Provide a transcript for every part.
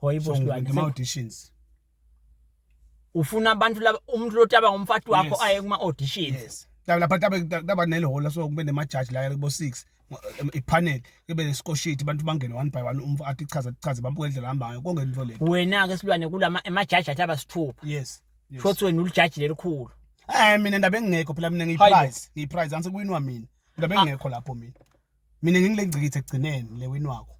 hoyibo silwane ma auditions ufuna abantu laba umuntu lotaba ngomfati wakho aye kuma auditions yes lapha tabe taba nelehola so kube nemajaji la kubo 6 ipanel kube nesikoshiti abantu bangene one by one umfo athi chaza chaza bambuke indlela hambayo konke into le wena ke silwane kulama emajaji athi abasithupha yes shothi wena ulijaji lelikhulu eh mina ndaba engekho phela mina ngiyiprize ngiyiprize anse kuwinwa mina ndaba engekho lapho mina mina ngingilengcikithe ekugcineni le win wakho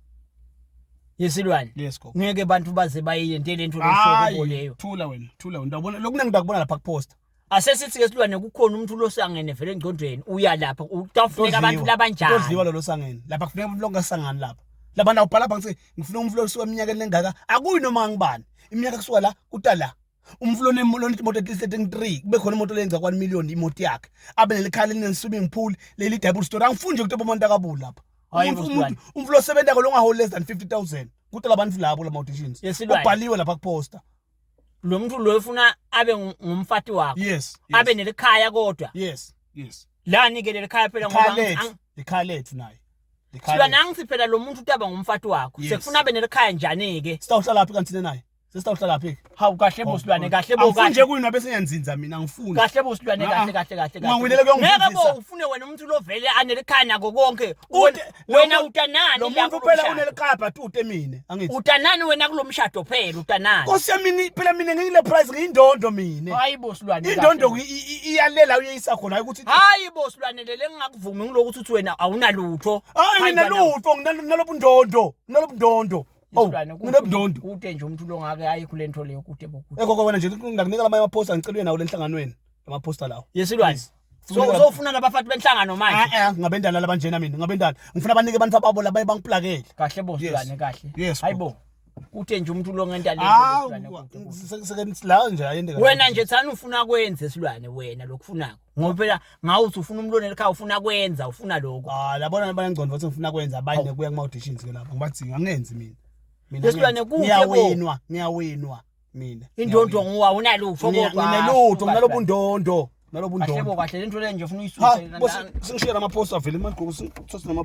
yesilwane yes gogo ngeke abantu baze bayiyente lento losoko leyo thula wena thula wena ndabona lokuna ngidakubona lapha kupost asesithi ke silwane kukhona umuntu losangene vele engcondweni uya lapha utafuneka abantu labanjani todliwa lo losangene lapha kufuneka umuntu longasangani lapha labana ubhala phansi ngifuna umuntu losuka eminyakeni lengaka akuyi noma ngibani iminyaka kusuka la kuta la umfula onemoto imoto at least eting three kube khona imoto leyenza kwani million imoto yakhe abe nelikhala elineswimming pool leli double story angifuni nje ukuthi bomuntu akabuli lapha umuntu umfula osebenza kolonga hole less than 50000 kuthi labantu labo lama auditions ubhaliwe lapha kuposter lo muntu lo ufuna abe ngumfati wakho yes abe nelikhaya kodwa yes yes la nike lelikhaya phela ngoba ikhaya lethu naye Sibona ngithi phela lo muntu utaba ngumfati wakho sekufuna abe nelikhaya njani ke Sitawuhlala phi kanti naye Sister uhlala phi? Hawu kahle bo silwane kahle bo kahle. Nje kuyini wabe senyanzinza mina ngifuna. Kahle bo silwane kahle kahle kahle. Ungangwinele kuyongifundisa. Ngeke bo ufune wena umuntu lovele anelikhana kokonke. Wena utanani lo muntu phela unelikabha tute mina angithi. Utanani wena kulomshado phela utanani. Nkosi yami phela mina ngiyile prize ngiyindondo mina. Hayi bo silwane. Indondo iyalela uyeyisa khona hayi ukuthi. Hayi bo silwane lele ngingakuvumi ngilokuthi uthi wena awunalutho. Hayi mina lutho nginalobundondo. Nalobundondo. Oh, isilwane mina budondo. kude nje umuntu longake aye kule nto leyo kude bokude Ekho kwena nje ngakunika lamanye amaphosta ngicelwe nawo lenhlanganweni amaphosta lawo. yesilwane Please. so Funa- uzofuna nabafati benhlangano manje Ah eh ngabendala labanjena mina ngabendala. Ngifuna banike abantu ababo labaye bangiplakele. kahle bo Yes. silwane kahle Yes, hayi bo kude nje umuntu longenta le Ah, nto, silwane, kude, kude. seke la nje ayende. wena nje thani ufuna kwenze silwane wena lokufunako ngoba phela ngawe uthi ufuna umlonela ekhaya ufuna kwenza ufuna lokho ah labona bayangcondo bathi ngifuna kwenza abanye oh. kuya kuma auditions ke lapho ngibadzinga angenzi mina mina lesilwane kuhle ngiyawinwa ngiyawinwa mina indondo ngowa unalutho kodwa nginelutho nginalobu ndondo nalobu ndondo kahle kahle lento le nje ufuna uyisuse singishiya lama poster vele manje kuthi sinama